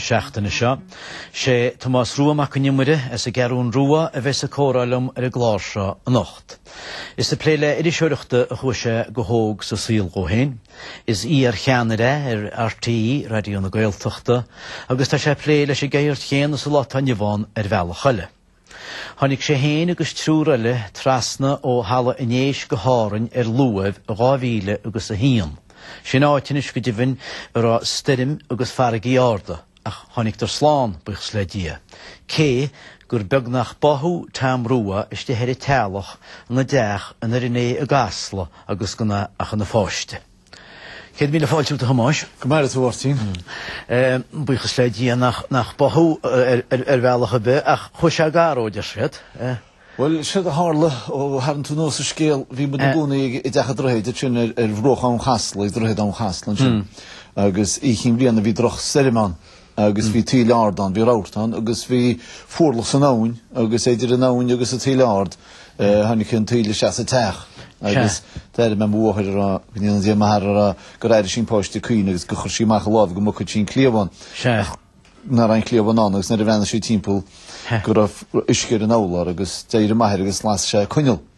seachtaine seo. Sé Tomás Rua Mac Con Iomaire as an gCeathrún Rua a bheas ag comhrá liom ar an gclár seo anocht. Is ag plé le iriseoireacht a chuaigh sé go hóg sa saol dhó féin. Is iarcheannaire é ar RTÉ Raidió na Gaeltachta agus tá sé ag plé leis an gceird chéanna sa lá atá inniu ann ar bhealach eile. Tháinig sé féin agus triúr eile trasna ó Thalamh an Éisc go hÁrainn ar luamh i dhá mhíle agus a haon. Sin áit, anois go deimhin, a raibh stoirm agus farraigí arda, ach tháinigdar slán, buíochas le Dia, cé gur beag nach báthadh Tom Rua istigh ar an teallach ina dteach i nDoire Né i gCasla agus gan é ach ina pháiste. Céad míle fáilte romhat a Thomáis. Go maire tú a Mháirtín. Buíochas le Dia nach báthadh thú ar bhealach ar bith ach chuaigh sé gar dhó, a deir siad. Bhuel, sin a tharla, ó tharraing tú anuas an scéal, bhí muid ina gcónaí i dteach an Droichid, ansin ar bhruach abhann Chasla, ag Droichead Abhann Chasla ansin, agus Oíche Chinn Bliana bhí drochstoirm ann. agus bhí taoille ard ann, bhí rabharta ann agus bhí fuarlach san abhainn agus idir an abhainn agus an taoille ard tháinig an taoille isteach sa teach agus d'airigh mé mo mháthair a rá go ndéana Dia maith uirthi a rá gur airigh sí an páiste ag caoineadh agus gur chuir sí amach a lámh go mbogfadh sí an cliabhán ach nach raibh an cliabhán ann agus nuair a bhreathnaigh sí timpeall go raibh uisce ar an urlár agus d'éirigh m'athair agus las sé coinneal.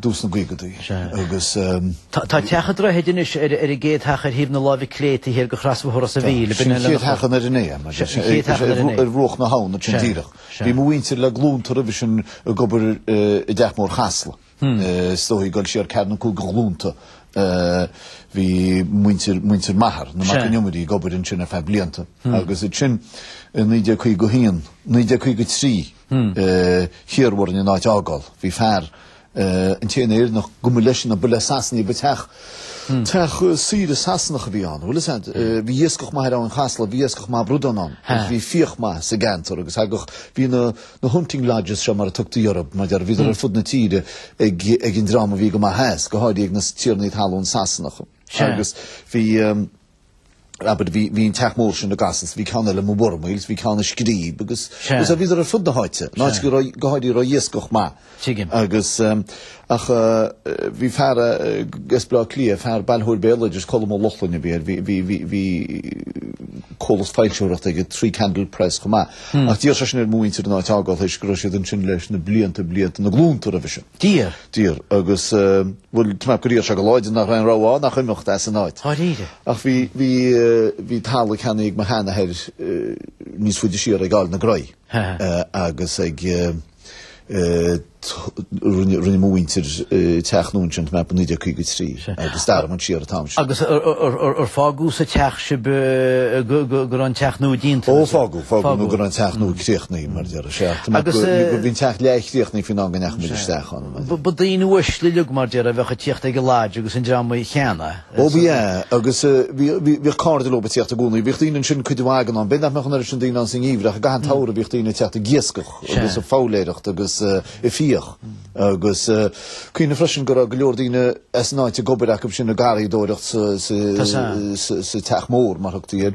dtús na gcaogaidí agus. Tá teach an Droichid anois ar an gcéad teach ar thaobh na láimhe clé taobh thiar de chrosbhóthar Ros an Mhíl Sin an chéad teach i nDoire Né, mar sin, ar bhruach na habhann, sin díreach. Bhí mo mhuintir le glúnta roimhe sin ag obair i dTeach Mór Chasla. Is dóichí ag goil siar ceathair nó cúig de ghlúnta. Bhí muintir, muintir m'athar, na Mac Con Iomaire, ag obair ansin ar feadh blianta. Agus ansin, i 1951, 1953, hiarradh orainn an áit a fhágáil. Bhí fear, an t-aon Éireannach go mba leis an, ba le Sasanaigh ba teach. Teach saoire Sasanach a bhí ann, bhuel is ea, bhí iascach maith ar Abhainn Chasla, bhí iascach maith bradán ann, agus bhí fiach maith sa gceantar agus thagadh, bhí na hunting lodges seo mar a tugtaí orthu, mar a déarfá, bhíodar ar fud na tíre ag an dream a bhí go maith as, go háirithe ag na tiarnaí talún Sasanacha. Agus bhí. Rabid, Bhí, bhí an teach mór sin i gCasla is, bhí ceann eile amuigh i bhFormaoil is, bhí ceann i Scríb, agus, agus a bhíodar ar fud na háite, an áit go raibh, go háirithe, a raibh iascach maith. Tuigim. Agus, ach, bhí fear as Bleá Cliath, fear bailitheoir béaloidis, Colm Ó Lochlainn a bhí air, bhí, bhí, bhí, bhí comhlacht foilsitheoireachta aige, Three Candle Press, chomh maith. Ach d'iarr seisean ar mo mhuintir an áit a fhágáil, tar éis go raibh siad ansin leis na blianta, blianta, na glúnta roimhe sin. Dia dtír agus, bhuel, tú nach gur éirigh sé chomh láidir nach raibh aon rogha ann ach imeacht as an áit. Dháiríre? Ach bhí, bhí, bhí talamh ceannaithe ag mo sheanathair níos faide siar ag Aill na Graí agus ag rinne, rinne mo mhuintir teach nua ansin timpeall 1953 agus dar man siar atá ansin. Agus ar fágadh sa teach sibh go raibh an teach nua déanta? Ó fágadh, fágadh nó go raibh an teach nua críochnaithe mar deir Certo, ma Agus, eh, bhí an teach leathchríochnaithe faoin am go ndeachaigh muid isteach ann, maith seo. ba daoine uaisle uilig mar deir a bheadh ag teacht ag an lodge agus an dream í cheana, eh, Ó, bhí, eh, agus, eh, bhí, bhí, bhíodh cairde leo ag teacht i gcónaí. Bhíodh daoine ansin cuid mhaith den am. B'fhéidir nach mbeadh an oiread sin daoine ann sa ngeimhreadh. I gcaitheamh an tSamhraidh bhíodh daoine ag teacht ag iascach Sea. agus ag foghlaeireacht agus, eh, ag fiach. Agus, eh, cuimhnigh freisin go raibh go leor daoine as an áit ag obair acu sin ag garraíodóireacht sa, sa, Tá sa. sa, sa teach mór, mar thugtaí air.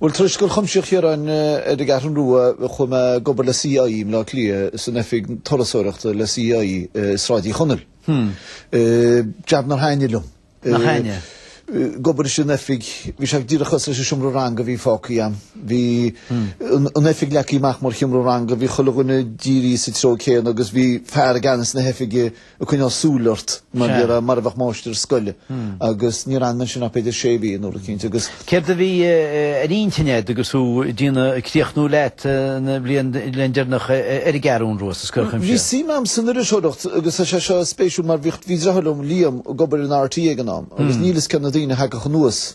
Bhuel, tar éis Scoil Chuimsitheach Chiaráin ar an gCeathrú Rua, chuaigh mé ag obair le CIE i mBleá Cliath, san oifig turasóireachta le CIE i Sráid Uí Chonaill. Jab nár thaitnigh liom. Nár thaitnigh? Ag obair san oifig, bhí sé díreach cosúil leis an seomra ranga a bhí fágtha agam. Bhí an oifig leagtha amach mar sheomra ranga, bhí chuile dhuine dírithe sa treo céanna agus bhí fear i gceannas na hoifige, ag coinneáil súil ort mar bhí sé mar a bheadh máistir scoile agus níor fhan mé ansin ach b'fhéidir sé mhí nó rud éicint agus. Céard a bhí ar intinn agat agus thú ag déanamh, ag críochnú leat an bhliain deireanach ar an gCeathrú Rua sa Scoil Chuimsitheach? Bhí suim agam san iriseoireacht agus tá sé seo spéisiúil mar bhí deartháir liom, Liam, ag obair in RTÉ ag an am agus níl fhios cé na daoine a thagadh anuas,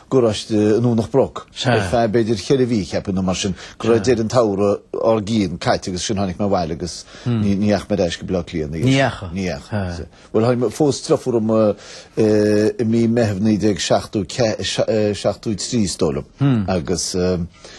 garáiste i nDomhnach Broc ar feadh b'fhéidir cheithre mhí, cheapfainn, nó mar sin, go raibh deireadh an tsamhraidh dár gcionn caite agus ansin tháinig mé abhaile agus hmm. ní dheachaigh mé ar ais go Baile Átha Cliath. Ní dheachaigh? Ní dheachaigh. Bhuel tháinig mé phós deirfiúr dhom uh, uh, i mí Meitheamh 1973 is dóigh liom hmm. agus um,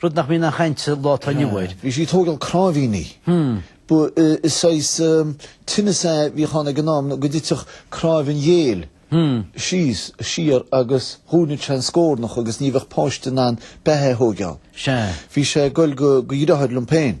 Rud nach mbíonn aon chaint sa lá atá inniu air. Bhí sí ag tógáil cnáimhíní. Is saghas tinneas a bhíodh ann ag an am go dtitfeadh cnáimh an ghéill síos, siar agus dhúnfadh sé an scórnach agus ní bheadh páiste in ann beatha a thóigeáil. Sea. Bhí sé ag goil do dheartháir liom féin.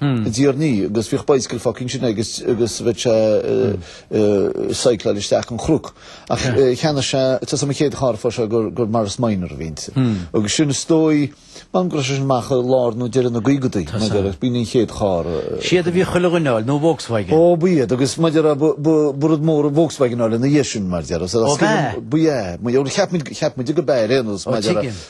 a dtiarnaí agus bhíodh bicycle fágtha ansin aige agus bheadh sé ag cycleáil isteach an cnoc. Ach cheannaigh sé, tá's agam an chéad charr a fuair sé gur Morris Minor a bhí inti. Agus sin is dóigh, m'anam go raibh sé sin amach i lár nó deireadh na gcaogaidí, mar a déarfá, b'in an chéad charr a. Siad a bhí chuile dhuine a fháil, nó Volkswagen. Ó ba iad, agus mar a déarfá ba rud mór an Volkswagen a fháil ina dhiaidh sin, mar a déarfá. Ó b'ea? Ba ea. Mar gheall, cheap muid, cheap muid ag an am ar aon nós, mar a déarfá,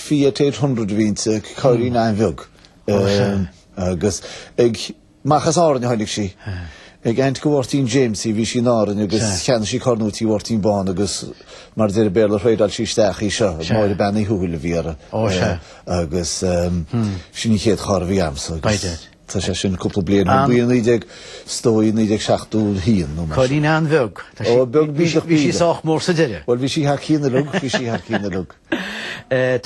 Fiat eight hundred a bhí inti, cairrín an-bheag agus amach as Árainn a tháinig sí. Ag aint do Mháirtín Jamesy a bhí sí in Árainn agus cheannaigh sí carr nua tigh Mháirtín Bán agus mar a deir an Béarla thradeáil sí isteach í seo. Máire Bean Uí Thuathail a bhí uirthi agus sin í an chéad charr a bhí agamsa. Tá sé sin cúpla bliain, 1970, 1971 nó mar sin. Cailín an-bheag. Ó, beag bídeach bídeach. Bhí sí sách mór sa deireadh. Bhuel, bhí sí thar cionn a rug, bhí sí thar cionn a rug.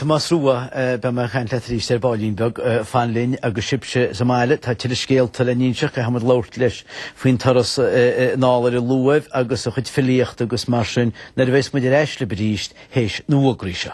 Tomás Rua, beidh mé ag caint leat arís ar baillín beag, fan linn agus sibhse sa mbaile, tá tuilleadh scéalta le n-inseacht, caithfimid labhairt leis faoin turas anall ar an luamh agus a chuid filíochta agus mar sin, nuair a bheas muid ar ais libh arís tar éis na bhfógraí seo.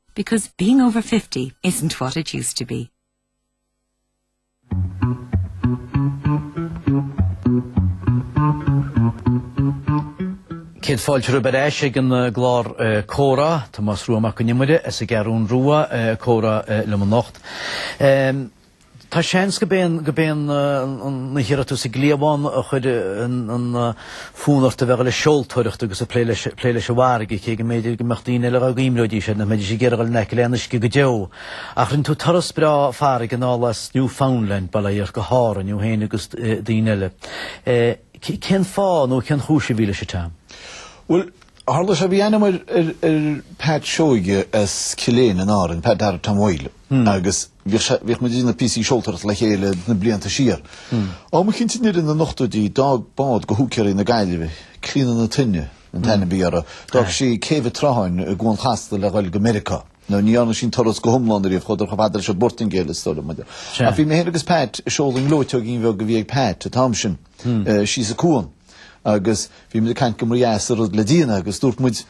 Because being over fifty isn't what it used to be. Céad fáilte roimh ar ais ag an eh, gclár eh, Comhrá, Tomás Rua Mac Con Iomaire as an gCeathrú Rua eh, comhrá liom anocht. Tá seans gurb é an iarracht úd sa gcliabhán a chuir an fonn ort a bheith ag dul le seoltóireacht agus ag plé leis an bhfarraige, cé go mb'fhéidir go mbeadh daoine eile dá gcuimhneoidís air nach mbeidís ag iarraidh dul in aice le an uisce go deo. Ach rinne tú turas breá farraige anall as Newfoundland, bail ó Dhia ort, go hÁrainn, thú féin agus daoine eile. Cén fáth nó cén chúis a bhí leis an dtuairim? Bhuel, tharla sé, bhí aithne agam ar Pat Seoige as Cill Éinne in Árainn, Pat Darragh Tom Mhaidhle, agus. Bhíodh sé, bhíodh muid ag déanamh píosaí seoltóireachta le chéile na blianta siar. Am eicínt i ndeireadh na n-ochtóidí d'fhág bád de húicéirí na Gaillimhe, Clíona na Toinne an t-ainm a bhí uirthi, d'fhág sí céibh an tSrutháin i gCuan Chasla le dhul go Meiriceá. Now ní dhearna sí an turas go hiomlán ariamh, chuadar chomh fada leis an bPortaingéil is dóigh liom. Ach bhí mé féin agus Pat ag seoladh i ngleoiteoigín bheag a bhí ag Pat an t-am sin síos an cuan agus bhí muid ag caint go mba dheas an rud le déanamh agus dúirt muid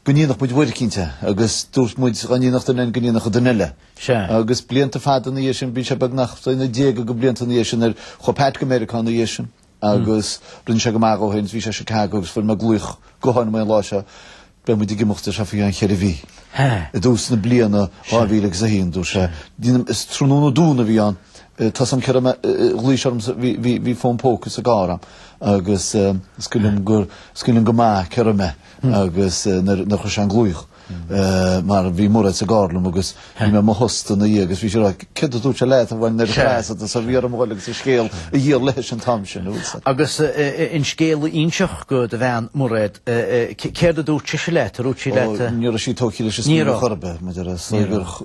go ndéanfadh muid uair eicínt é agus dúirt muid dá ndéanfadh duine go ndéanfadh an duine eile. Sea. Agus blianta fada ina dhiaidh sin, bhí sé beagnach na déaga de bhlianta ina dhiaidh sin ar ndóigh chuaigh Pat go Meiriceá ina dhiaidh sin agus rinne sé go maith ansin, bhí sé i Chicago agus fuair mé glaoch gutháin uaidh an lá seo, beidh muid ag imeacht ar sé i gceann cheithre mhí. Hé. I dtús na bliana 2000 agus a haon dúirt sé, dhéanaim, is tráthnóna Domhnaigh a bhí ann, tá a fhios agam cá raibh mé, ghlaoigh sé ormsa, bhí, bhí, bhí fón póca sa gcarr agam agus is cuimhin liom go, is cuimhin liom go maith cá raibh mé agus nuair a, nuair a chuir sé an glaoch. mar bhí Mairéad sa gcarr liom agus bhí mé i mo thost ina dhiaidh agus bhí sí ag rá, céard a dúirt sé leat a bhain an chaint díot so, bhí orm dhul agus an scéal a dhíol léithi an t-am sin, an bhfuil a fhios agat. Agus an scéal a inseacht do do bhean Mairéad, céard a dúirt sise leat, a dúirt sí leat. Ó, ní raibh sí tógtha leis an scéal chor ar bith, maidir le saothar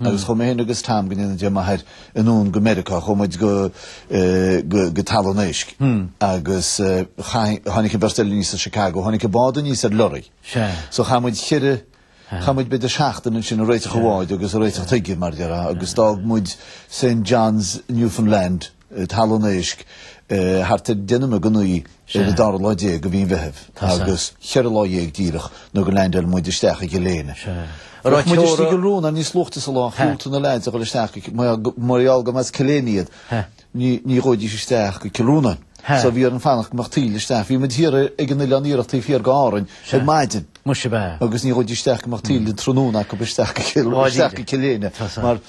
agus chuaigh mé féin agus Tom go ndéana Dia maith air anonn go Meiriceá chomh maith go go Talamh an Éisc agus tháinig an bheirt eile aníos as Chicago tháinig an bád aníos ar lorry so chaith muid cheithre chaith muid b'fhéidir seachtain ansin ag réiteach an bháid agus ag réiteach chuige mar a déarfá agus d'fhág muid Saint John's Newfoundland Talamh an Éisc thart ar 10 nóiméad ag 9 ar an 12 lá de mhí an Mheithimh agus 14 lá díreach nó gur leaindeáil muid isteach i gCill Éinne. Bheadh muid istigh i gCill Rónáin níos luaichte sa lá, dhiúltaigh na leaids a dhul isteach go, mar gheall gurb as Cill Éinne iad, ní ghabhfaidís isteach go Cill Rónáin. So bhí orainn fanacht go mbeadh taoille isteach. Bhí muid thiar ag an Oileán Iarthach taobh thiar de Árainn ar maidin agus ní ghabhfaidís isteach go mbeadh taoille an tráthnóna acu isteach go Cill Éinne mar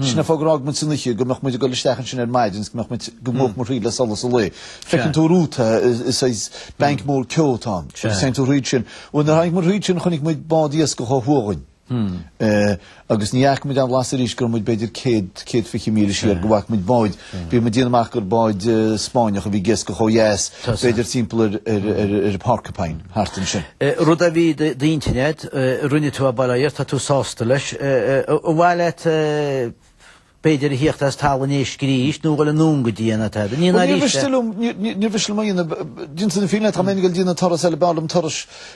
Sin an fáth gur fhág muid san oíche go mbeadh muid ag dul isteach ansin ar maidin agus go mbeadh muid, go ngabhfadh muid thríd le solas an lae. Feiceann tú romhat é, saghas banc mór ceo atá ann, agus téann tú thríd sin. Bhuel, nuair a tháinig muid thríd sin chonaic muid bád iascaigh ó thuaidh dínn. Agus ní fhaca muid aon bhlas arís go raibh muid b'fhéidir céad, céad fiche míle siar go bhfaca muid bád. Bhí mé ag déanamh amach gur bád Spáinneach a bhí ag iascach ó dheas, b'fhéidir timpeall ar Porcupine, thart ansin. Rud a bhí i d'intinn agat, rinne tú é, bail ó Dhia ort, tá tú sásta leis. Ar mhaith leat b'fhéidir a thíocht as Talamh an Éisc arís nó dhul anonn go dtí an atá agat? Níor mhiste liom, níor mhiste liom a dhéanamh, déanta na fírinne dá mbeinn ag dul ag déanamh turas eile, b'fhearr liom turas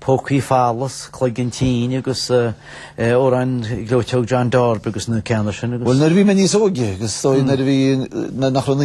Pócaí Folamh is Cloigeann tinn agus amhrán Ghleoiteog John Darby agus na ceanna sin agus. Bhuel nuair a bhí mé níos óige, agus is dóigh nuair a bhí, nach raibh an.